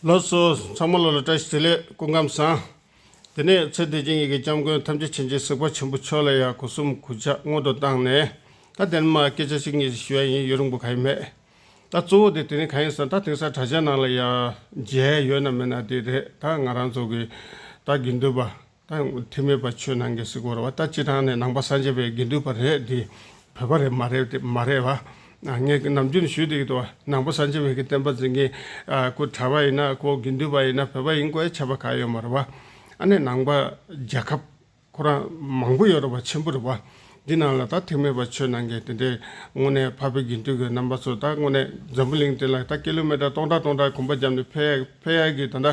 ལོ་སོ་ཚང་མ་ལོ་ལ་བཀྲ་ཤིས་བདེ་ལེགས་སྐུ་ཁམས་བཟང། དེ་ནས་ཚེ་འདས་ཀྱི་ཡི་གེ་སྐྱབས་མགོན་ཐམས་ཅད་བྱིན་གྱིས་གཟིགས་པ་ཆེན་པོ་མཆོག་ལ་ཡང་གོ་གསུམ་གུས་ཕྱག་སྔོན་དུ་བཏང་ནས་ད་དེ་རིང་མ་སྐད་ཆ་ཞིག་ངེད་ཀྱིས་ཞུ་ཡ་ཡིན་ཡོད་རིང་པོ་ག་ཡིན་མེད། ད་གཙོ་བོ་དེ་དེ་རིང་ག་ཡིན་ཟེར་ན་ད་དེང་སང་དྲ་ཇའི་ནང་ལ་ཡང་མཇལ་ཡོད་ན་མེད་ན་དེ་རེད་ད་ང་རང་ཚོ་གིས་ད་དགེ་འདུན་པ། དང་དེ་མེད་པ་ཆོས་ནང་གི་སྲིད་འཁོར་བ་ལྟ་སྤྱི་དང་ནི་ནང་པ་སངས་རྒྱས་པའི་དགེ་འདུན་པ་རེད་དེ་བོད་པ་རེད་མ་རེད་དེ་མ་རེད་བ། ངས་ནམ་རྒྱུན་ནས་ཞུས་དེ་ཡོད་དོ་ནང་པ་སངས་རྒྱས་བའི་གི་བསྟན་པ་འཛིན་མཁན་ཁོ་གྲྭ་བ་ཡིན་ན་ཁོ་དགེ་འདུན་པ་ཡིན་ན་བོད་པ་ཡིན་དགོས་ཁྱབ་པ་ག་ཡོད་མ་རེད་བ། ཨ་ནི་ནང་པ་རྒྱལ་ཁབ་ཁོ་རང་མང་པོ་ཡོད་རེད་བ་ཆེན་པོ་རེད་བ། འདི་རྣམས་ལ་ད་ཐེངས་མེད་པར་ཆོས་གནང་གིན་དེ་འདྲའི་སྔོན་ནས་འཕགས་པའི་དགེ་འདུན་གྱི་རྣམ་པ་ཚོ་ད་སྔོན་ནས་འཛམ་བུ་གླིང་སྟེང་ལ་ད་ཀི་ལོ་མེ་ཏར་སྟོང་ཕྲག་སྟོང་ཕྲག་གོམ་པ་བརྒྱབ་ནས་ཕེབས་ཡ་གི་ད་ལྟ་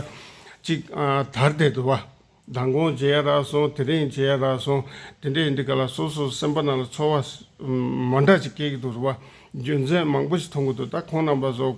ཅིག་དར་བསྡད་འདུག་བ། མདང་དགོང་བྱེད་ཡ་རག་སོང་དེ་རིང་བྱེད་ཡ་རག་སོང་དེ་འདྲས་འདི་ག་ལ་སོ་སོ་སེམས་པ་རྣམས་ལ་ཚོར་བ་མང་དྲག་ཅིག་སྐྱེ་གི་འདུག་བ། རྒྱུ་མཚན་མང་པོ་ཞིག་མཐོང་གི་འདུག་ད་ཁོང་རྣམ་པ་ཚོ།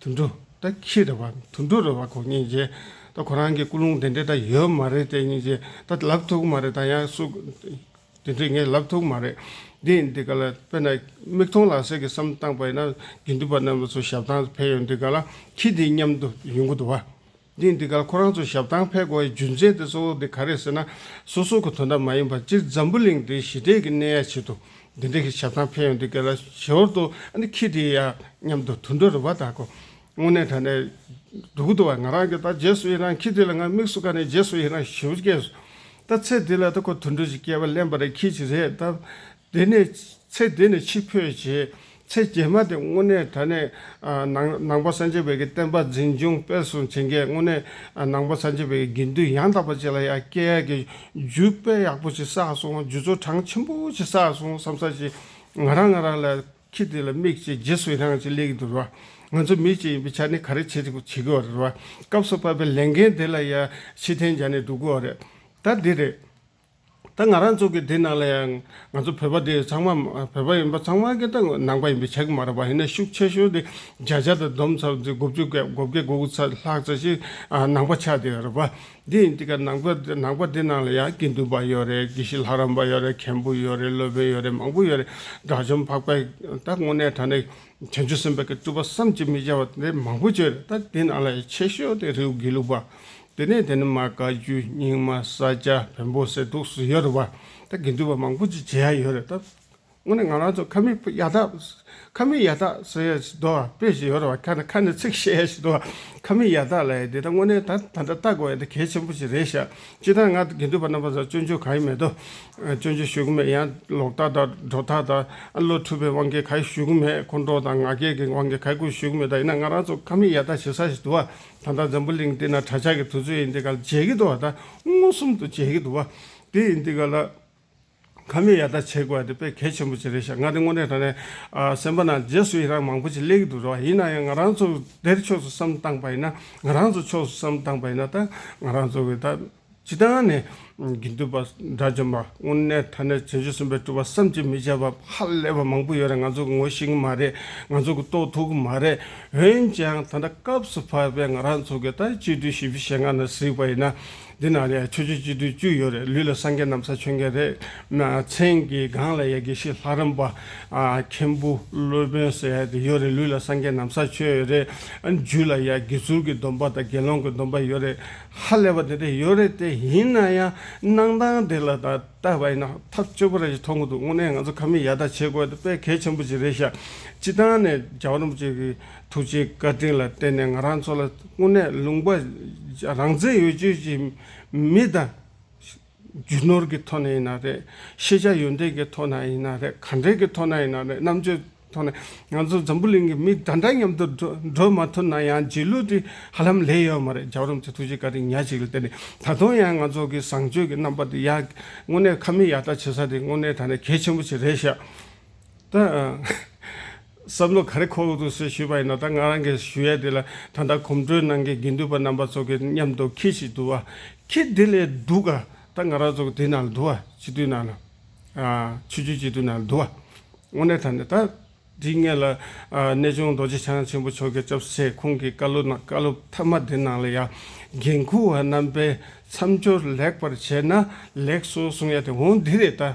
དུད་འགྲོ་དང་ཁྱི་རེད་པ། དུད་འགྲོ་རེད་པ་གོ་སྙིང་རྗེ། ད་ཁོ་རང་གི་སྐུ་རླུང་དེ་འདྲས་ད་ཡོད་མ་རེད་དེ་སྙིང་རྗེ། ད་ལབ་ཐུག་མ་རེད་ད་ཡང་སུ། དེ་འདྲས་ངས་ལབ་ཐུག་མ་རེད། འདི་ཡིན་འདི་ག་ལ་དཔེར་ན། མིག་མཐོང་ལག་ཟིན་གྱི་བསམ་བཏང་པ་ཡིན་ན། དགེ་འདུན་པ་རྣམས་ལ་ཚོ་ཞབས་ཐང་ཕེབས་ཡོང་འདི་ག་ལ་ཁྱི་འདི་སྙམ་དུ་ཡོང་གི་འདུག་བ། དེས་འདི་གར་ཁོ་རང་ཚོ་ཞབས་ཐང་ཕེབས་དགོས་པའི་རྒྱུ་མཚན་དེ་གཙོ་བོ་དེ་ག་རེད་ཟེར་ན། སོ་སོ་གི་དོན་དག་མ་ཡིན་པར་སྤྱིར་འཛམ་བུ་གླིང་འདིའི་ཞི་བདེ་གི་གནས་ཡ་ཆེད་དུ་འདི་འདྲའི་གི་ཞབས་ཐང་ཕེབས་ཡོང་འདུག་གལ་ལ་ཞོར་དུ་འདི་ཁྱི་དེ་ཡ་སྙམ་དུ་དུད་འགྲོ་རུ་བ་དག་གོ། དངོས་གནས་ད་ནས་སྡུག་གི་འདུག་བ་ང་རང་གིས་ད་རྗེས་སུ་ཡི་རང་ཁྱི་དེ་ལ་ང་དམིགས་སུ་བཀར་ནས་རྗེས་སུ་ཡི་རང་ཞུ་བ་སྐྱེས་སོ། ད་ཚེ་འདི་ལ་ད་ཁོ་དུད་འགྲོ་ཞིག་སྐྱེས་པ་གླེན་པ་རེད་ཁྱི་ཞིག་རེད་ད། དེ་ནས་ཚེ་འདི་ནས་འཆི་འཕོས་རྗེས་ཚེ་རྗེས་མ་དེ་སྔོན་གནས་དེ་ནས་ནང་པ་སངས་རྒྱས་བོད་ཀྱི་བསྟན་པ་འཛིན་སྐྱོང་སྤེལ་གསུམ་བྱེད་མཁན་སྔོན་གནས་ནང་པ་སངས་རྒྱས་བོད་ཀྱི་དགེ་འདུན་ཡང་དག་པ་བཅས་ལ་ཡང་སྐྱེས་ཡས་ཀྱི་རྒྱུད་དཔེ་ཡག་པོ་ཞིག་བསགས་སོང་རྒྱུད་ཚོ་གྲངས་ཆེན་པོ་ཞིག་བསགས་སོང་བསམ་བསམ་བྱས་ང་རང་ང་རང་ལ་ཁྱི་དེ་ལ་དམིགས་བྱས་རྗེས་སུ་ཡི་རངས་ཅིག་སླེབས་ཀྱི་འདུག་ར་ང་ཚོ་མི་གཅིག་ཡིན་པའི་ཆ་ནས་ག་རེ་བྱེད་དགོས་བྱེད་དགོས་ར་སྐབས་སུ་བབས་པའི་ལས་འགན་དེ་ལ་ཡང་ཕྱི་ཐན་སྦྱར་ནས་འདུག་དགོས་ར་ད་འདི་རེད། ད་ང་རང་ཚོ་གི་དེ་ནང་ལ་ཡང་ང་ཚོ་བོད་པ་དེ་ཚང་མ་བོད་པ་ཡིན་པ་ཚང་མ་གི་ད་ནང་པ་ཡིན་པའི་ཆ་གི་མ་རེད་པ་ཡིན་ན་ཤུགས་ཆེ་ཤོས་དེ་བརྒྱ་ཆ་དང་བསྡོམས་ཚར་བཅུ་དགུ་བཅུ་བརྒྱད་དགུ་བརྒྱ་དགུ་དགུ་ཚར་ལྷག་ཚར་ཞིག་ནང་པ་ཆགས་དེ་རེད་པ། དེ་ཡིན་དེ་ག་ནང་པ་ནང་པ་དེ་ནང་ལ་ཡང་དགེ་འདུན་པ་ཡོད་རེད་དགེ་བཤེས་ལྷ་རམས་པ་ཡོད་རེད་མཁན་པོ་ཡོད་རེད་སློབ་དཔོན་ཡོད་རེད་མང་པོ་ཡོད་རེད་དགྲ་བཅོམ་འཕགས་པས་ད་དངོས་གནས་ད་ནི་བྱང་ཆུབ་སེམས་དཔའ་གི་སྤྲུལ་པ་བསམ་གྱིས་མི་ཁྱབ་པ་དེ་མང་པོ་བྱོས་རེད་ད་དེ་ནང་ལ་ཡང་ཆེ་ཤོས་དེ་རེའུ་དགེ་ལུགས་པ་དེ་ནས་དེ་ནི་མ་བཀའ་བརྒྱུད་རྙིང་མ་ས་སྐྱ་བོན་པོ་གསེར་ཐུགས་སུ་ཡོད་རུང་བ་དང་དགེ་འདུན་པ་མང་པོ་ཅིག་བྱེད་ཡ་ཡོད་རེད་སྟབས། སྔོན་ནས་ང་རང་ཚོ་ཁ་མིག་ཡ་དག་ཁ་མིག་ཡ་དག་ཟེར་ཡ་ཞིག་འདུག་དཔེ་ཞིག་ཡོད་རུང་བ་ཁ་ནས་ཁ་ནས་ཚིག་བཤད་ཡ་ཞིག་འདུག་ཁ་མིག་ཡ་དག་ལ་ཡ་འདི་ད་དངོས་གནས་ད་ད་འདྲ་ལྟ་དགོས་ཡ་འདི་གལ་ཆེན་པོ་ཞིག་རེད་ཤག་སྤྱིར་བཏང་ང་དགེ་འདུན་པ་རྣམ་པ་ཚོ་སྤྱོད་འཇུག་གང་ཡང་མེད་དོ། སྤྱོད་འཇུག་ཞུ་གི་མེད་ཡང་ལོག་ལྟ་དང་སྒྲོ་ལྟ་དང་བློ་འཁྲུལ་པའི་དབང་གིས་ག་ཡོད་ཞུ་གི་མེད་ཁོང་ཁྲོ་དང་ང་རྒྱལ་གྱི་དབང་གིས་ག་དགོས་ཞུ་གི་མེད་ད་ཡིན་ན་ང་རང་ཚོ་ཁ་མིག་ཡ་དག་བྱེད་ས་ཞིག་འདུག་བ་ད་ལྟ་འཛམ་བུ་གླིང་འདི་ན་གྲྭ་ཆགས་ཀྱི་དུས་ཚོད་ཡིན་འདི་ག་ལ་མཇལ་གྱི་འདུག་བ་ད་མངོན་སུམ་དུ་མཇལ་གྱི་འདུག་བ་དེ་ཡིན་འདི་ག་ལ། ཁ་མི་ཡ་ད་བྱེད་དགོས་བ་དེ་དཔེ་གལ་ཆེན་པོ་ཅིག་རེད་ཤག་ང་དེ་དངོས་གནས་ད་ནས་སེམས་པ་ན་རྗེས་སུ་ཡི་རངས་མང་པོ་ཅིག་སླེ་གི་འདུག་རེད་བ་ཡིན་ན་ཡང་ང་རང་ཚོ་དེར་ཕྱོགས་སུ་བསམ་བཏང་བ་ཡིན་ན་ང་རང་ཚོ་ཕྱོགས་སུ་བསམ་བཏང་བ་ཡིན་ན་ད་ང་རང་ཚོ་གི་ད། ཇི་ལྟར་ན་ནི། དགེ་འདུན་པ་དགྲ་བཅོམ་པ་དངོས་གནས་མཐའ་ན་བྱང་ཆུབ་སེམས་དཔའི་སྤྲུལ་པ་བསམ་གྱིས་མི་ཁྱབ་པ་ཧ་ལས་པ་མང་པོ་ཡོད་རེད་ང་ཚོ་གི་ངོ་ཤེས་གི་མ་རེད་ང་ཚོ་གི་རྟོགས་ཐུབ་གི་མ་རེད་འོན་ཀྱང་ད་ལྟ་སྐབས་སུ་བབས་པའི་ང་རང་ཚོ་གི་ད་སྤྱི་འཐུས་བཞི་བཅུ་ཞེ་ལྔ་ན་གཟིགས་པ་ཡིན་ན་འདི་ན་ལས་ཆོས་ཆོས་སྤྱི་འཐུས་བཅུ་ཡོད་རེད་ལུས་ལ་སངས་རྒྱས་ནམ་ས་ཆོས་མཁན་རེད་མཚན་གྱི་སྒང་ལ་ཡ་དགེ་བཤེས་ལྷ་རམས་པ། མཁན་པོ་སློབ་དཔོན་ཟེར་ཡ་དེ་ཡོད་རེད་ལུས་ལ་སངས་རྒྱས་ནམ་ས་ཆོས་ཡོད་རེད་རྒྱུད་ལ་ཡ་དགེ་ཟུར་གྱི་སྡོམ་པ་དང་དགེ་སློང་གི་སྡོམ་པ་ཡོད་རེད་ཧ་ལས་པ་དེ་འདྲ་ཡོད་རེད་དེ་ཡིན་ན་ཡང་གནང་སྟངས་དེ་ལ་ད་ལྟ་བ་ཡིན་ན་ཐག་གཅོད་པོ་རེ་ཞིག་ཐོང་གི་འདུག་དངོས་གནས་ང་ཚོ་ཁ་མིས་ཡར་ལྟ་བྱེད་དགོས་དེ་དཔེ་གལ་ཆེན་པོ་ཅིག་རེད་ཤག་སྤྱི་བཏང་ནས་རྒྱག་རོམ་བཅས་ཀྱི་ཐུགས་རྗེའི་བཀའ་དྲིན་ལ་བརྟེན་ནས་ང་རང་ཚོ་ལ་དངོས་གནས་ལུང་པ་རང་བཙན་ཡོད་བརྗོད་ཀྱི་མི་དང། རྒྱུ་ནོར་གྱི་ཐོག་ནས་ཡིན་ན་རེད། ཤེས་བྱ་ཡོན་ཏན་གྱི་ཐོག་ན་ཡིན་ན་རེད་གང་དྲན་གྱི་ཐོག་ན་ཡིན་ན་རེད་རྣམ་དཔྱོད་ཐོག་ནས་ང་ཚོ་འཛམ་བུ་གླིང་གི་མི་གདའ་འདྲ་མཉམ་དུ་འགྲོ་མ་ཐུབ་ན་ཡང་རྗེས་ལུས་དེ་ཧ་ལམ་ལས་ཡོད་མ་རེད་རྒྱ་རོམ་གྱི་ཐུགས་རྗེ་ཀ་རིང་ཉག་ཅིག་ལ་བརྟེན་ནས་ད་དུང་ཡང་ང་ཚོ་གི་བཟང་སྤྱོད་ཀྱི་རྣམ་པ་དེ་ཡག་དངོས་གནས་ཁ་མིག་ཡག་ལྟ་བྱེད་ས་དེ་དངོས་གནས་ད་ནས་གལ་ཆེན་པོ་ཞིག་རེད་ཤག་ཏུ། བསམ་བློ་ག་རེ་ཁོག་ཏུ་གསོས་ཤེས་པ་ཡིན་ན་ད་ང་རང་གིས་ཞུ་ཡ་དེ་ལ་ད་ལྟ་གོམ་བགྲོད་གནང་མཁན་དགེ་འདུན་པ་རྣམ་པ་ཚོ་གི་མཉམ་དུ་ཁྱི་ཞིག་འདུག་བ། ཁྱི་དེ་ལས་སྡུག་ག་ད་ང་རང་ཚོ་གི་དེ་ནང་ལ་འདུག་བ་སྤྱི་འཐུས་ནང་ལ། ཆོས་རྒྱུད་སྤྱི་འཐུས་ནང་ལ་འདུག་བ། དངོས་གནས་ད་ནི་ད་འདི་ངེད་ལ་གནས་ཆུང་རྡོ་རྗེ་འཆང་ཆེན་པོ་མཆོག་གི་སྐྱབས་སེ་ཁོང་གི་བཀའ་སློབ་ནང་བཀའ་སློབ་མཐའ་མ་དེ་ནང་ལ་ཡང་འགན་འཁུར་བ་རྣམ་པས་མཚམས་སྦྱོར་ལེགས་པར་བྱས་ན་ལེགས་སོ་གསུང་ཡ་དེ་འོང་འདི་རེད་ད།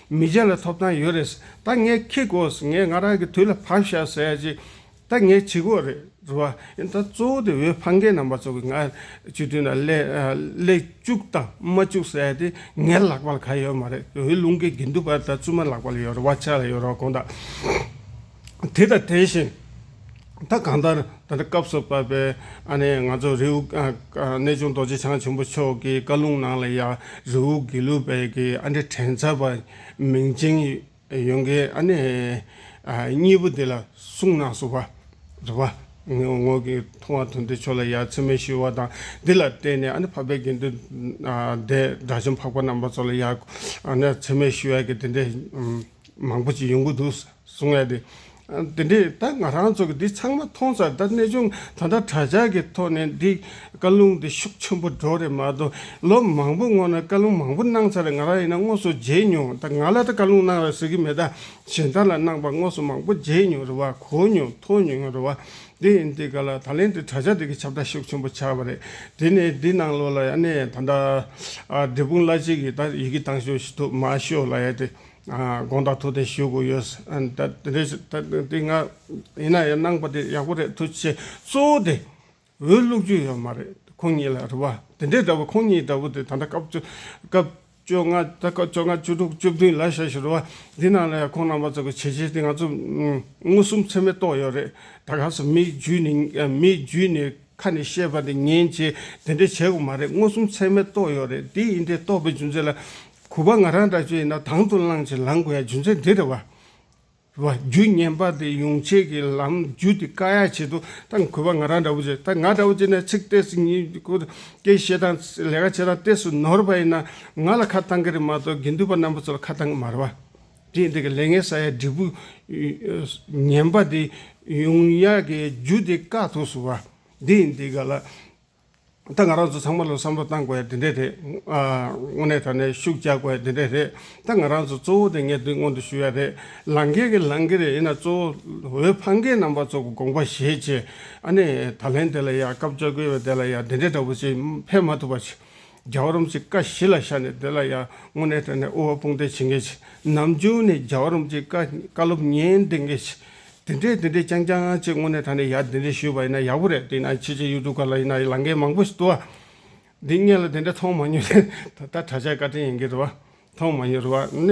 མི་གཞན་ལ་ཐོབ་ཐང་ཡོད་རེད། ད་ངས་ཁྱི་གོ་ཟེར་ངས་ང་རང་གི་དུས་ལ་བབས་ཤག་ཟེར་ཡ་ཅིག་ད་ངས་བྱི་གོ་རེད་བ། ཡིན་ད་གཙོ་བོ་དེ་འོས་འཕང་མཁན་རྣམས་པ་ཚོ་གི་ང་སྤྱི་འཐུས་ན་ལས་བཅུག་དང་མ་བཅུག་ཟེར་ཡ་དེ་ངའི་ལག་པ་ལ་ག་ཡོད་མ་རེད་འོས་བླུན་གི་དགེ་འདུན་པ་ད་བཙུན་མ་ལག་པ་ལ་ཡོད་རེད་བ་ཆ་ལ་ཡོད་རེད་བ་གང་ད། དེ་དང་དེ་བཞིན་ད་གང་ལྟར་ད་ལྟ་སྐབས་སུ་བབས་པའི་ཨ་ནེ་ང་ཚོ་རེའུ་གནས་ཆུང་རྡོ་རྗེ་འཆང་ཆེན་པོ་མཆོག་གི་བཀའ་ལུང་ནང་ལ་ཡང་རེའུ་དགེ་ལུགས་པའི་གི་ཨ་འདྲེ་དྲན་ཚར་བ་མིང་ཅན་ཡོན་གའི་ཨ་ནེ་གཉིས་པོ་དེ་ལ་གསུངས་ནང་སོ་བ་རེ་བ་ངོས་ཀྱི་མཐོང་བ་དོན་དེ་ཆོས་ལ་ཡ་མཚན་མེད་ཞུ་བ་དང་འདི་ལ་བརྟེན་ནས་ཨ་ནེ་འཕགས་པའི་དགེ་འདུན་སྡེ་དགྲ་བཅོམ་འཕགས་པ་རྣམ་པ་ཚོ་ལ་ཡ་མཚན་མེད་ཞུ་བའི་གི་དེ་འདྲའི་མང་པོ་ཞིག་ཡོང་གི་འདུག་གསུང་ཡ་དེ། དེ་འདྲས་ད་ང་རང་ཚོ་གི་འདི་ཚང་མ་མཐོང་ཚར་ད་གནས་ཆུང་ད་ལྟ་དྲ་ཇག་གི་ཐོག་ནས་འདི་བཀའ་ལུང་འདི་ཤུགས་ཆེན་པོ་སྒྲོག་རེད་མ་གཏོགས་ལོ་མང་པོ་སྔོན་ན་བཀའ་ལུང་མང་པོ་གནང་ཚར་ང་རང་ཡིན་ན་དངོས་སུ་མཇལ་མྱོང་ད་ང་ལ་ད་བཀའ་ལུང་གནང་རོགས་ཟེར་གི་མེད་ད་གཞན་དག་ལ་གནང་པ་དངོས་སུ་མང་པོ་མཇལ་མྱོང་རེད་བ་གོ་མྱོང་ཐོས་མྱོང་རེད་བ་དེ་ཡིན་དེ་ག་ལ་ད་ལན་འདི་དྲ་ཇག་འདི་གི་ཁྱབ་བརྡལ་ཤུགས་ཆེན་པོ་ཆགས་པ་རེད་དེ་ནས་འདི་ནང་ལོགས་ལ་ཡ་གནས་ད་ལྟ་འབྲས་སྤུངས་བླ་སྤྱི་གི་ད་ཡི་གི་བཏང་ཞོག་ཞུ་ཐུབ་མ་ཤོག་ལ་ཡ་དེ། དགོངས་དག་ཐུགས་བདེ་ཞུ་དགོས་ཡོད། དེ་སྔ་ཡིན་ན་ཡང་གནང་པ་དེ་ཡག་པོ་རེད་ཐུགས་རྗེ་ཆེ། གཙོ་བོ་དེ་འོས་བླུག་རྒྱུ་ཡོད་མ་རེད་ཁོང་གཉིས་ལ་རེ་བ། དེ་འདྲའི་ལྟ་བུ་ཁོང་གཉིས་ལྟ་བུ་དེ་ད་ལྟ་སྐབས་བཅོ་ལྔ་བཅུ་དྲུག་བཅུ་བདུན་ལ་ཞེས་ཞུ་རེ་བ། འདི་ནང་ལ་ཡང་ཁོང་རྣམ་པ་ཚོ་གི་བྱས་རྗེས་དེ་ང་ཚོ་མངོན་སུམ་ཚད་མས་རྟོགས་ཡོད་རེད། ད་ག་ས་མིའི་རྒྱུད་ནས་ཁ་ནས་བཤད་པ་འདི་ངན་ཅེས་དེ་འདྲས་བྱས་གོ་མ་རེད་མངོན་སུམ་ཚད་མས་རྟོགས་ཡོད་རེད་འདི་ཡིན་འདི་རྟོགས་པའི་རྒྱུ་མཚན་ལ། གུས་པ་ང་རང་འདྲ་བྱོས་ཡིན་ན་དང་དུ་བླངས་ཅིག་ལངས་དགོས་ཡ་རྒྱུ་མཚན་འདི་རེད་བ། བ། རྒྱུ་ངན་པ་འདི་ཡོང་ཆེད་ཀྱི་ལམ་རྒྱུ་འདི་བཀག་ཡ་བྱེད་དུ་ད་གུས་པ་ང་རང་འདྲ་བོ་བྱོས་ད་ང་འདྲ་བོ་བྱས་ན་ཚིག་གཏད་སུ་ཉིད་སྐུ་སྐྱེ་བཤད་དང་ལས་ཀ་བྱེད་དང་གཏད་སུ་ནོར་བ་ཡིན་ན་ང་ལ་ཁ་བཏང་གི་རེད་མ་གཏོགས་དགེ་འདུན་པ་རྣམ་པ་ཚོ་ལ་ཁ་བཏང་གི་མ་རེད་བ། དེས་འདི་གི་ལས་ངན་ས་ཡ་འབྲས་བུ་ངན་པ་འདི་ཡུངས་ཡ་གི་རྒྱུ་འདི་དཀའ་ཐུགས་སུ་བ། འདི་ཡིན་འདི་ག་ལ། ད་ང་རང་ཚོ་ཚང་མ་ལ་བསམ་བློ་བཏང་དགོས་ཡ་འདི་འདྲས་རེད། དངོས་གནས་ད་ནས་ཤུགས་རྒྱག་དགོས་ཡ་འདི་འདྲས་རེད། ད་ང་རང་ཚོ་གཙོ་བོ་དེ་ངས་འདི་སྔོན་དུ་ཞུ་ཡ་རེད། ལང་ཀའི་གི་ལང་ཀི་རེད་ཡིན་ན་གཙོ་བོ་འོད་ཕང་ཀའི་རྣམ་པ་ཚོ་གི་དགོངས་པ་བཞེས་ཅེས་ཨ་ནེ་ད་ལན་དེ་ལ་ཡ་སྐབས་བཅོ་བརྒལ་བའི་དེ་ལ་ཡ་འདི་འདྲས་འདྲ་པོ་ཅིག་ཕེབས་མ་ཐུབ་པ་ཆི། རྒྱ་བ་རོམ་གྱི་ཀ་བཞི་ལ་ཤར་ནས་དེ་ལ་ཡང་སྔོ་ནད་སྤྲས་ནས་དབུལ་བ་དཔུང་སྟེ་བྱིན་གྱིས་ནམ་རྒྱུན་ནས་རྒྱ་བ་རོམ་གྱི་ཀ་བཀའ་སློབ་ཉན་བདེ་འགས་ཤིག། དེ་འདྲས་དེ་འདྲས་རྐྱང་རྐྱང་ཅིག་སྔོ་ནད་དང་ནི་ཡར་དེ་འདྲས་ཞུས་པ་ཡིན་ན་ཡག་པོ་རེད་དེ་ཡིན་ན་ཕྱི་ཕྱི་ཡུ་ཏུབ་ག་ལ་ཡིན་ན་ལང་ཀའི་མང་པོ་ཞིག་བཏུ་བ། འདི་ངས་ལ་དེ་འདྲས་མཐོང་མ་མྱོང་ད་ལྟ་གྲྭ་ཆས་བཀའ་དྲིན་ཡིན་གྱི་རེད་བ་མཐོང་མ་མྱོང་རེད་བ།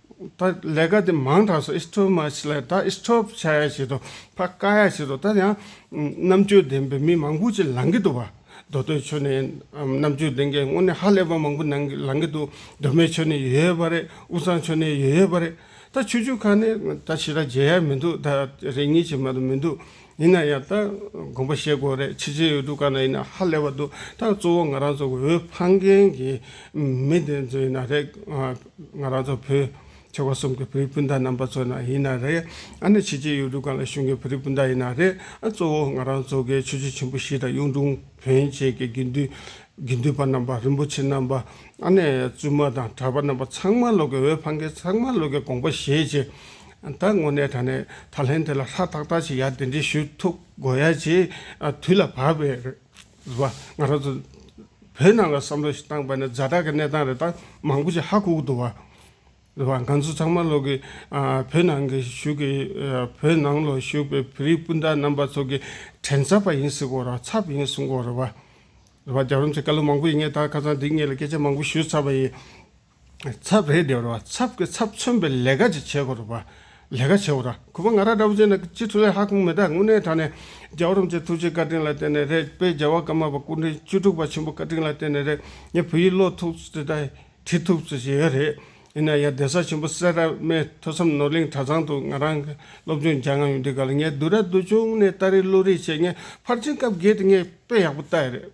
ད་ལས་ཀ་དེ་མང་དྲགས་སོ་ཨིས་ཐོབ་མ་བྱེད་ལ་ད་ཨིས་ཐོབ་བྱ་ཡ་བྱེད་དོ་ཕ་བཀའ་ཡ་བྱེད་དོ་ད་ཡང་རྣམ་དཔྱོད་ལྡན་པའི་མི་མང་པོ་ཅིག་ལང་གི་འདུག་བ་མདོ་སྟོད་ཆོས་ནས་རྣམ་དཔྱོད་ལྡན་གྱི་དངོས་ནས་ཧ་ལས་པ་མང་པོ་ནང་གི་ལང་གི་འདུག་མདོ་སྨད་ཆོས་ནས་ཡོད་ཡོད་པ་རེད་དབུ་གཙང་ཆོས་ནས་ཡོད་ཡོད་པ་རེད་ད་ཆོས་བརྒྱུད་ཁག་ནས་ད་ཕྱི་ར་མཇལ་ཡ་མི་འདུག་ད་རེ་གཉིས་བྱེད་མ་དུ་མི་འདུག་ཡིན་ན་ཡང་ད་དགོངས་པ་བཞེས་དགོས་རེད་ཕྱི་རྗེས་ཡོད་དུས་ག་ན་ཡིན་ན་ཧ་ལས་པ་འདུག་ད་གཙོ་བོ་ང་རང་ཚོ་གི་འོས་འཕངས་མཁན་གྱི་མི་དེ་ཚོ་ཡིན་ན་རེད། ང་རང་ཚོ་བོད་ཆེ་བ་གསུམ་གྱི་བོད་རིགས་སྤུན་ཟླ་རྣམ་པ་ཚོ་ན་ཡིན་ན་རེད། ཨ་ནི་ཕྱི་རྗེས་ཡོད་དུས་ག་ལ་གཞུང་གི་བོད་རིགས་སྤུན་ཟླ་ཡིན་ན་རེད། གཙོ་བོ་ང་རང་ཚོ་གི་ཆོས་རྗེ་ཆེན་པོ་བཞི་དང་གཡུང་དྲུང་བོན་བཅས་ཀྱི་དགེ་འདུན་དགེ་འདུན་པ་རྣམ་པ་རིན་པོ་ཆེ་རྣམ་པ་ཨ་ནི་བཙུན་མ་དང་གྲྭ་པ་རྣམ་པ་ཚང་མ་ལོག་གི་འོས་འཕངས་མཁན་ཚང་མ་ལོག་གི་དགོངས་པ་བཞེས་རྗེས། ད་དངོས་གནས་ད་ནས་ད་ལྷན་དེ་ལ་ལྷ་དག་དག་ཅིག་ཡར་འདི་འདྲི་ཞུ་ཐུབ་དགོས་ཡ་ཅེས་དུས་ལ་བབས་པས་རེད། བ། ང་རང་ཚོ་བོད་ནང་ལ་བསམ་བློ་ཞིག་བཏང་པ་ནས་ཛ་དྲག་གི་གནས་སྟངས་རེ་ད་མང་པོ་ཅིག་ཧ་གོ་གི་འདུག་བ། རེད་བ། ང་ཚོ་ཚང་མ་ལོག་གི་བོད་ནང་གི་བཞུགས་ཀྱི་བོད་ནང་ལོག་བཞུགས་པའི་བོད་རིགས་སྤུན་ཟླ་རྣམ་པ་ཚོ་གི་དྲན་ཚབ་པ་ཡིན་སྲིད་གོ་ར་ཚབ་ཡིན་གསུང་གོ་རེད་བ། རེད་བ། རྒྱ་རོམ་ཚོས་བཀའ་སློབ་མང་པོ་ཡིན་ངེས་ད་ཁ་སང་འདི་གཉིས་ལ་སྐད་ཆ་མང་པོ་ཞུས་ཚར་བ་ཡིན། ཚབ་རེད་དེ་རོ་ཚབ་ཀྱི་ཚབ་མཚོན་པའི་ལས་ཀ་ཅིག་བྱེད་དགོས་རོགས་པ། ལས་ཀ་བྱེད་རོགས། ཁོ་པ་ང་ར་འདྲ་བོ་ཅན་ནི་སྤྱི་འཐུས་ལས་ཧ་གོང་མི་དག་དངོས་གནས་དྲ་ནས་རྒྱལ་བ་རིན་པོ་ཆེ་ཐུགས་རྗེ་བཀའ་དྲིན་ལ་བརྟེན་ནས་རེད་དཔེ་རྒྱལ་བ་ཀརྨ་པ་སྐུ་འཕྲེང་བཅུ་དྲུག་པ་ཆེན་པོ་བཀའ་དྲིན་ལ་བརྟེན་ནས་རེད་ངས་བོད་ཡིག་ཀློག་ཐུབ་ཚུལ་དང་བྲིས་ཐུབ་ཚུལ་ཞིག་ཡོད་རེད་ཡིན་ན་ཡང་གདན་ས་ཆེན་པོ་སེ་ར་སྨད་ཐོས་བསམ་ནོར་གླིང་གྲྭ་ཚང་དུ་ང་རང་གི་སློབ་སྦྱོང་སྦྱང་ང་ཡོང་དུས་ག་ལ་ངས་བསྡུ་ར་བསྡུ་ཆུང་ནས་ལྟ་རེས་བླུ་རེས་བྱས་ངས་ཕར་ཕྱིན་སྐབས་བརྒལ་དུས་ངས་དཔེ་ཡག་པོ་བལྟ་ཡི་རེད།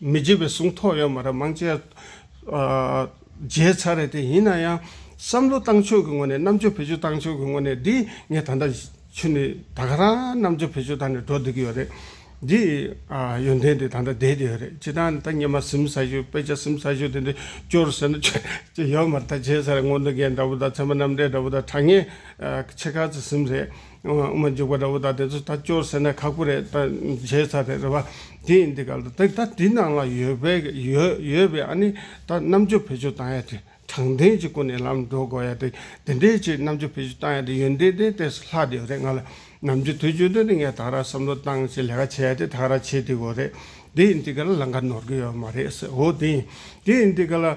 མི་བརྗེད་པའི་གཟུངས་ཐོག་ཡོད་མ་རེད་མང་ཆེ། བརྗེད་ཚར་རེད་དེ་ཡིན་ན་ཡང། བསམ་བློ་བཏང་ཕྱོགས་ཀྱི་ངོ་ནས་རྣམ་དཔྱོད་བེད་སྤྱོད་བཏང་ཕྱོགས་ཀྱི་ངོ་ནས་འདི་ངས་ད་ལྟ་ཆུ་ནི་ད་ག་རང་རྣམ་དཔྱོད་བེད་སྤྱོད་བཏང་ནས་འགྲོ་སྡོད་ཀྱི་ཡོད་རེད། འདི་ཡོན་ཏན་འདི་ད་ལྟ་བསྡད་ཀྱི་ཡོད་རེད་ཇི་ལྟར་ད་ཉི་མ་གཟིམ་ས་ཞོད་དཔེ་ཆ་གཟིམ་ས་ཞོད་དེ་འདི་སྐྱོར་ཟེར་ན་ཅི་ཡོད་མ་རེད་ད་བརྗེད་ཚར་རེད་སྔོན་ཏུ་རྒན་འདྲ་བོ་དང་ཚད་མ་རྣམ་འགྲེལ་འདྲ་བོ་དང་གྲགས་སྙན་ཆེ་ཁག་ཅིག་གཟིམ་རེད། དབུ་མ་འཇུག་པ་འདྲ་བོ་ད་དེ་ཚོ་ད་སྐྱོར་ཟེར་ན་ཁག་པོ་རེད་ད་བྱས་ཚར་རེད་རེད་བ། དེ་ཡིན་དེ་ག་ལ་དེ་ད་དེ་ནང་ལ་ཡོད་པའི་ཡོད་ཡོད་པའི་ཨ་ནི་ད་རྣམ་དཔྱོད་བེད་སྤྱོད་བཏང་ཡ་དེ་དྲང་བདེན་གྱི་སྐུ་ནས་ལམ་འགྲོ་དགོས་ཡ་དེ་དེ་འདྲའི་ཆེད་རྣམ་དཔྱོད་བེད་སྤྱོད་བཏང་ཡ་དེ་ཡོན་ཏན་ཏན་ཏན་སོ་ལྷག་དེ་ཡོད་རེད་ང་ལ་ནམ་རྒྱུན་དུས་རྒྱུན་དུ་ནི་ངས་ད་ར་བསམ་བློ་བཏང་ཞེས་ལས་ཀ་བྱས་ཡ་དེ་ད་ར་བྱེད་དེ་དགོས་རེད་དེ་ཡིན་དེ་ག་ལ་ལང་ཀ་ནོར་གི་ཡོད་མ་རེད་ཟེར་འོ་དེ་ཡིན་དེ་ཡིན་དེ་ག་ལ།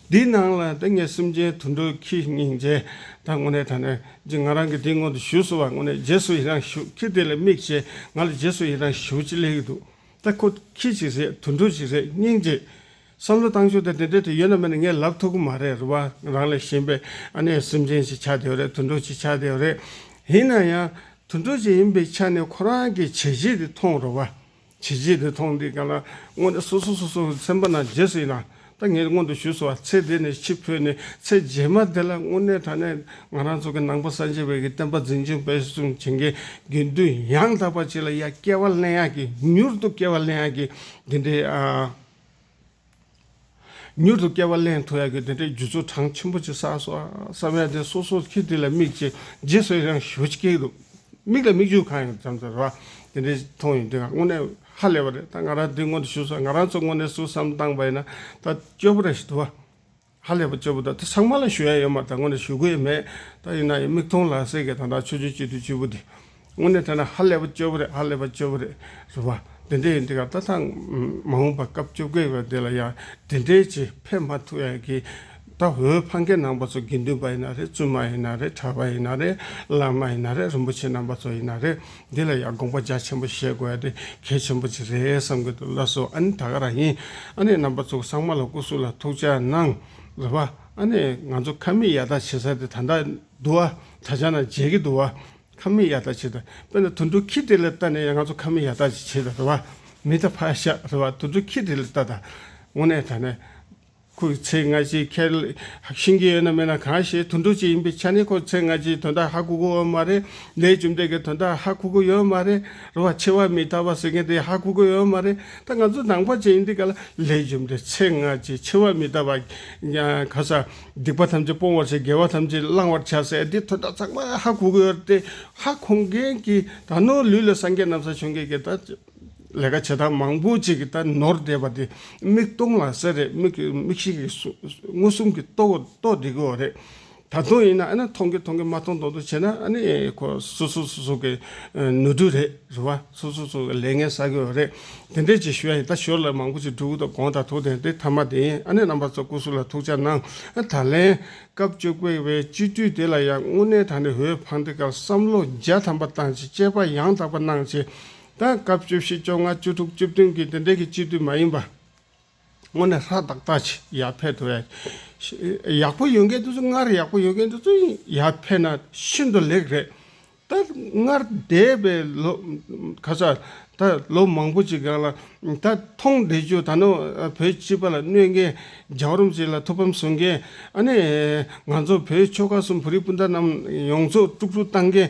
འདིའི་ནང་ལ་ཏིང་ངེ་སེམས་ཅན་དུད་འགྲོའི་ཁྱི་སྙིང་རྗེ་དང་དངོས་གནས་ད་ནི་རྗེ་ང་རང་གིས་འདིའི་སྔོན་དུ་ཞུས་སོང་བ་དངོས་གནས་རྗེས་སུ་ཡི་རང་ཞུ་ཁྱི་དེ་ལ་དམིགས་བྱས་ང་ལ་རྗེས་སུ་ཡི་རང་ཞུ་ཅི་ལེགས་འདུག་ད་ཁོ་ཁྱི་ཅིག་རེད་དུད་འགྲོ་ཅིག་རེད་སྙིང་རྗེ། བསམ་བློ་བཏང་ཆོག་དེ་དེ་འདྲ་དེ་ཡོད་ན་མེད་ན་ངས་ལབ་ཐུབ་ཀྱི་མ་རེད་རེ་བ་རང་ལས་གཞན་པའི་ཨ་ནེ་སེམས་ཅན་ཅིག་ཆགས་བསྡད་རེད་དུད་འགྲོ་ཅིག་ཆགས་བསྡད་རེད། ཡིན་ན་ཡང་དུད་འགྲོ་ཅིག་ཡིན་པའི་ཆ་ནས་ཁོ་རང་གི་བྱས་རྗེས་དེ་མཐོང་རོགས། བྱས་རྗེས་དེ་མཐོང་དུས་ཀྱང་ལ་དངོས་ནས་སོ་སོ་སོ་སོ་སེམས་པ་ན་རྗེས་སུ་ཡི་ན་ད་ངས་སྔོན་དུ་ཞུས་སོ་བ་ཚེ་འདི་ནས་ཕྱི་འཕོས་ནས་ཚེ་རྗེས་མ་དེ་ལ་དངོས་གནས་དྲ་གནས་ང་རང་ཚོ་གི་ནང་པ་སངས་རྒྱས་བས་ཀྱི་བསྟན་པ་འཛིན་སྐྱོང་སྤེལ་གསུམ་བྱེད་མཁན་དགེ་འདུན་ཡང་དག་པ་ཅིག་ལ་ཡ་སྐལ་བ་གླེང་ཡག་གི་མྱུར་དུ་སྐལ་བ་གླེང་ཡག་གི་འདི་འདྲའི་ཨ། མྱུར་དུ་བསྐལ་པ་གླེང་ཐུབ་ཡག་གི་དེ་འདྲའི་རྒྱུ་ཚོགས་གྲངས་ཆེན་པོ་ཅིག་བསགས་སོང་བསམ་ཡག་དེ་སོ་སོ་ཁྱེད་དེ་ལ་མིག་ཅིག་རྗེས་སུ་ཡང་ཞུ་ཅི་ཀྱི་འདུག་མིག་ལ་མིག་ཆུ་གང་ཡོང་བྱམས་བརྩེ་རེ་བ་དེ་འདྲའི་མཐོང་ཡོང་དེ་ང་དངོས་གནས་ཧ་ལས་པ་རེད་ད་ང་རང་དེ་སྔོན་དུ་ཞུ་སོང་ང་རང་ཚོ་དངོས་གནས་སུ་བསམ་སྟངས་པ་ཡིན་ན་ད་སྐྱོ་པོ་རེ་ཞིག་འདུག་བ། ཧ་ལས་པ་གཅེར་བུ་ད་ལྟ་ཚང་མ་ལ་ཞུ་ཡ་ཡོད་མ་ད་ངོ་ནས་ཞུ་གོ་ཡི་མེད་ད་ཡིན་ན་ཡང་མིག་མཐོང་ལག་ཟིན་གི་ད་ད་ཆོས་ཆོས་གཅེར་དུ་གཅེར་བུ་དེ་ངོ་ནས་ཐོས་ན་ཧ་ལས་པ་གཅེར་བུ་རེད་ཧ་ལས་པ་གཅེར་བུ་རེད་རེད་བ་འདི་འདྲས་ཡིན་འདི་ག་ད་ཐང་མ་འོངས་པ་སྐབས་བཅོ་བརྒྱད་པའི་འདི་ལ་ཡང་འདི་འདྲས་ཆེ་ཕེབས་མ་ཐུབ་ཡ་གི་ད་བོད་ཕ་མཁན་ནང་པ་ཚོ་དགེ་འདུན་པ་ཡིན་ན་རེད་བཙུན་མ་ཡིན་ན་རེད་གྲྭ་པ་ཡིན་ན་རེད་བླ་མ་ཡིན་ན་རེད་རིན་པོ་ཆེ་རྣམ་པ་ཚོ་ཡིན་ན་རེད། འདི་ལ་ཡང་དགོངས་པ་རྒྱ་ཆེན་པོ་བཞེས་དགོས་ཡ་དེ་གལ་ཆེན་པོ་ཅིག་རེད་བསམ་གྱི་འདུག་ལགས་སོ་ཨ་ནི་ད་ག་རང་ཡིན་ཨ་ནི་རྣམ་པ་ཚོ་ཚང་མ་ལ་སྐུ་གཟུགས་ལ་ཐུགས་བཅག་གནང་རེད་པ་ཨ་ནི་ང་ཚོ་ཁ་མིག་ཡར་ཐག་བྱེད་ས་དེ་ད་འདྲ་འདུག་ཨ་ད་ཆ་ན་མཇལ་གྱི་འདུག་ཨ་ཁ་མིག་ཡར་ཐག་བྱེད་ད་དཔེ་ན་དུད་འགྲོ་ཁྱི་དེ་ལ་ལྟ་ནས་ཡང་ང་ཚོ་ཁ་མིག་ཡར་ཐག་ཅིག་བྱེད་ད་རེད་པ་མི་ད་ཕ་ཤ་རེད་པ་དུད་འགྲོ་ཁྱི་དེ་ལ་ལྟ་ད་ངོ་ནས་ད་ནས་ཁོས་ཚེ་སྔ་ཕྱིའི་ཁེར་ཤིང་གི་ཡོད་ན་མེད་ན་གང་ཞེས་དུད་འགྲོ་ཅིག་ཡིན་པའི་ཆ་ནས་ཁོ་ཚེ་སྔ་ཕྱིའི་དོན་དག་ཧ་གོ་གི་འོ་མ་རེད། ལས་བཅོམ་ལྡན་གྱི་དོན་དག་ཧ་གོ་གི་ཡོད་མ་རེད། རེ་བ་ཆེ་བ་མི་ཐར་བ་ཟེར་མཁན་དེ་ཧ་གོ་གི་ཡོད་མ་རེད། ད་ང་ཚོ་ནང་པ་ཅན་ཡིན་དུས་ག་ལ་ལས་བཅོམ་ལྡན་ཚེ་སྔ་ཕྱིའི་ཆེ་བ་མི་ཐར་བ་ག་ས་སྡིག་པ་ཐམས་ཅད་སྤོང་བར་བྱེད་དགེ་བ་ཐམས་ཅད་བླང་བར་བྱ་ཟེར་དེ་དོན་དག་ཚང་མ་ཧ་གོ་གི་ཡོད་རེད་དེ་ཧ་གོ་མཁན་གྱི་ད་ནོར་ལུས་ལ་སངས་རྒྱས་ནམ་ས་བྱོན་མཁན་གྱི་ད་ལས་ཀ་བྱེད་སྟངས་མང་པོ་ཅིག་ད་ནོར་བསྡད་པ་དེ་མིག་སྟོང་ལ་གསལ་རེད་མིག་གི་མིག་ཤེས་ཀྱི་མངོན་སུམ་གྱི་རྟོགས་རྟོགས་བསྡད་ཀྱི་འོ་རེད། ད་དུང་ཡིན་ན་ཨ་ན་མཐོང་གི་མཐོང་གི་མ་མཐོང་མཐོང་དུ་བྱས་ན་ཨ་ནི་ཁོ་སོ་སོ་སོ་སོ་གི་ནོར་འཁྲུལ་རེད་རེད་བ་སོ་སོ་སོ་ལས་ངན་བསགས་ཀྱི་འོ་རེད་དེ་འདྲས་ཅིག་ཞུ་ཡ་ཡིན་ད་ཞོར་ལས་མང་པོ་ཅིག་འགྲུབ་དང་དགོངས་དང་ཐུགས་དང་དེ་ཐ་མ་དེ་ཡིན་ཨ་ནི་རྣམ་པ་ཚོ་སྐུ་སུ་ལ་ཐུགས་ཅག་གནང་ད་ལན་སྐབས་བཅོ་བརྒྱད་པའི་སྤྱི་འཐུས་དེ་ལ་ཡང་དངོས་གནས་ད་ནི་འོས་འཕངས་དེ་སྐབས་བསམ་བློ་རྒྱ་ཐམ་པ་བཏང་ཅིག་དཔྱད་པ་ཡང་དག་པ་གནང་ཅིག་དང་སྐབས་བཅུ་བཞི་བཅོ་ལྔ་བཅུ་དྲུག་བཅུ་བདུན་གྱི་འདི་འདྲའི་གི་སྤྱི་འཐུས་མ་ཡིན་པ་དངོས་ནས་ཧྲ་ཏག་ཏག་ཅིག་ཡར་འཕེལ་ཐུབ་ཡས་ཡག་པོ་ཡོད་མཁན་དེ་ཚོ་སྔར་ཡག་པོ་ཡོད་མཁན་དེ་ཚོ་ཡར་འཕེལ་ན་ཤིན་ཏུ་ལེགས་རེད་ད་སྔར་འདས་པའི་ལོ་ཁ་ས་ད་ལོ་མང་པོ་ཅིག་གི་ལ་ད་མཐོང་བསྡད་རྒྱུ་ད་ནོ་བོད་སྤྱི་པ་ལ་གནོད་མཁན་རྒྱའུ་རོམ་ཅིག་ལ་ཐུགས་ཕམ་བཟོ་མཁན་ཨ་ནི་ང་ཚོ་བོད་ཆོལ་ཁ་གསུམ་བོད་རིགས་སྤུན་ཟླ་རྣམས་ཡོངས་རྫོགས་དཀྲུགས་དཀྲུགས་བཏང་མཁན་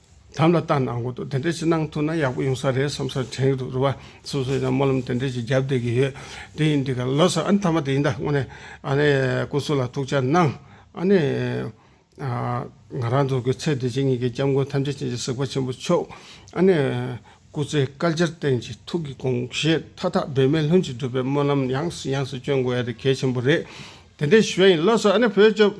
དམ་ལ་བཏགས་ན་གོང་དུ་དེ་འདྲ་ཞིག་གནང་ཐུབ་ན་ཡག་པོ་ཡོང་ས་རེད་བསམ་སར་དྲན་གི་འདུག་རུ་བ་སོ་སོས་ཀྱང་སྨོན་ལམ་དེ་འདྲ་ཞིག་བརྒྱབ་བསྡད་ཀྱི་ཡོད། དེ་ཡིན་དུས་ག་ལོ་སར་ཨ་ནི་མཐའ་མ་དེ་ཡིན་ད་དངོས་ནས་ཨ་ནི་སྐུ་གཟུགས་ལ་ཐུགས་ཅག་གནང་ཨ་ནི། ང་རང་འདུག་གི་ཚེ་བདེ་ཆེན་གཉིས་ཀྱི་སྐྱབས་མགོན་ཐམས་ཅད་ཅན་གྱི་གཟིགས་པ་ཆེན་པོ་མཆོག་ཨ་ནི། སྐུ་ཚེ་དཀར་འབྱར་བརྟན་གྱི་ཐུགས་ཀྱི་དགོངས་བཞེད་མཐའ་དག་འབད་མེད་ལྷུན་གྱིས་འགྲུབ་པའི་སྨོན་ལམ་ཡང་སུ་ཡང་སུ་བསྐྱོན་དགོས་ཡ་དེ་གལ་ཆེན་པོ་རེད་དེ་འདྲའི་ཞུ་བ་ཡིན་ལོ་སར་ཨ་ནི་བོད་ལྗོངས།